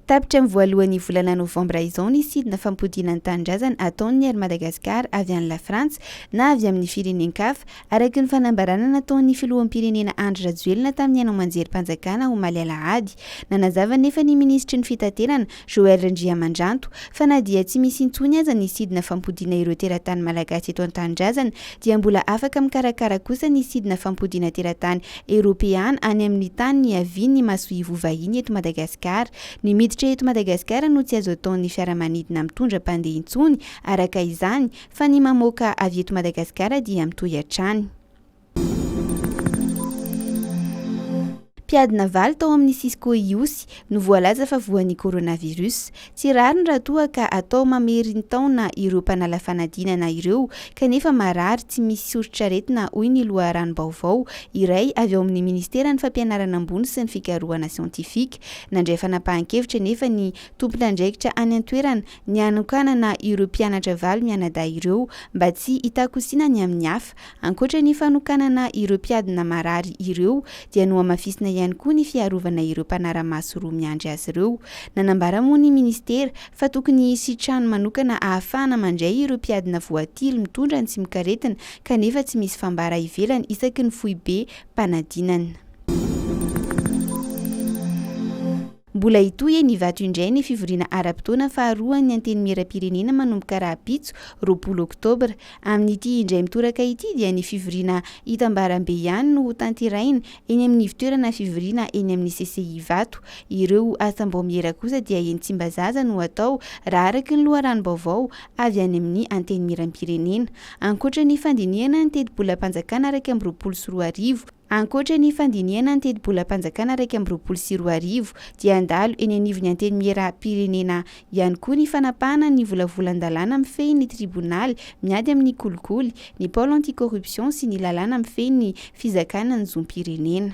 Tapitra amin'ny voalohan'ny volana novambra izao ny sidina fampodiana ny tanindrazana ataon'ny Air Madagascar avy any Lafrantsa na avy amin'ny firenen-kafa, araka ny fanambarana nataon'ny filoham-pirenena Andry Rajoelina tamin'ny haino aman-jerim-panjakana omaly alahady. Nanazava anefa ny minisitry ny Fitaterana Joël Randriamandranto, fa na dia tsy misy intsony aza ny sidina fampodiana ireo teratany malagasy eto an-tanindrazana dia mbola afaka mikarakara kosa ny sidina fampodiana teratany eropeana any amin'ny tany niavian'ny masoivoho vahiny eto Madagasikara. Ny miditra eto Madagasikara no tsy azo ataon'ny fiaramanidina mitondra mpandeha intsony araka izany fa ny mamoaka avy eto Madagasikara dia mitohy hatrany Mpiady navaly tao amin'ny Cisco Ihosy no voalaza fa voan'ny coronavirus. Tsy rariny raha toa ka atao mamerintaona ireo mpanala fanadinana ireo kanefa marary tsy misy soritr'aretina hoy ny loharanom-baovao iray avy ao amin'ny Ministeran'ny Fampianarana Ambony sy ny Fikarohana Siantifika. Nandray fanapahan-kevitra anefa ny tompon'andraikitra any an-toerana ny hanokanana ireo mpianatra valo mianadahy ireo mba tsy hitakosina ny amin'ny hafa. Ankoatra ny fanokanana ireo mpiadina marary ireo dia nohamafisina ihany koa ny fiarovana ireo mpanara-maso roa miandry azy ireo. Nanambara moa ny Ministera fa tokony hisy trano manokana ahafahana mandray ireo mpiadina voatily mitondra ny tsimokaretina kanefa tsy misy fambara ivelany isaky ny foibem-panadinana. Mbola hitohy eny Ivato indray ny fivoriana ara-potoana faharoan'ny Antenimierampirenena manomboka rahampitso, roapolo oktobra. Amin'ity indray mitoraka ity dia ny fivoriana hitambarambe ihany no hotanterahina eny amin'ny ivontoerana fivoriana eny amin'ny CCI Ivato. Ireo asam-baomiera kosa dia eny Tsimbazaza no hatao raha araka ny loharanom-baovao avy any amin'ny Antenimierampirenena. Ankoatra ny fandinihana ny tetibolam-panjakana iraika amby roapolo sy roa arivo, Ankoatra ny fandinihana ny tetibolam-panjakana iraika amby roapolo sy roa arivo dia handalo eny anivon'ny Antenimieram-pirenena ihany koa ny fanapahana ny volavolan-dalàna mifehy ny tribonaly miady amin'ny kolikoly, ny pôle anti-corruption sy ny lalàna mifehy ny fizakana ny zom-pirenena.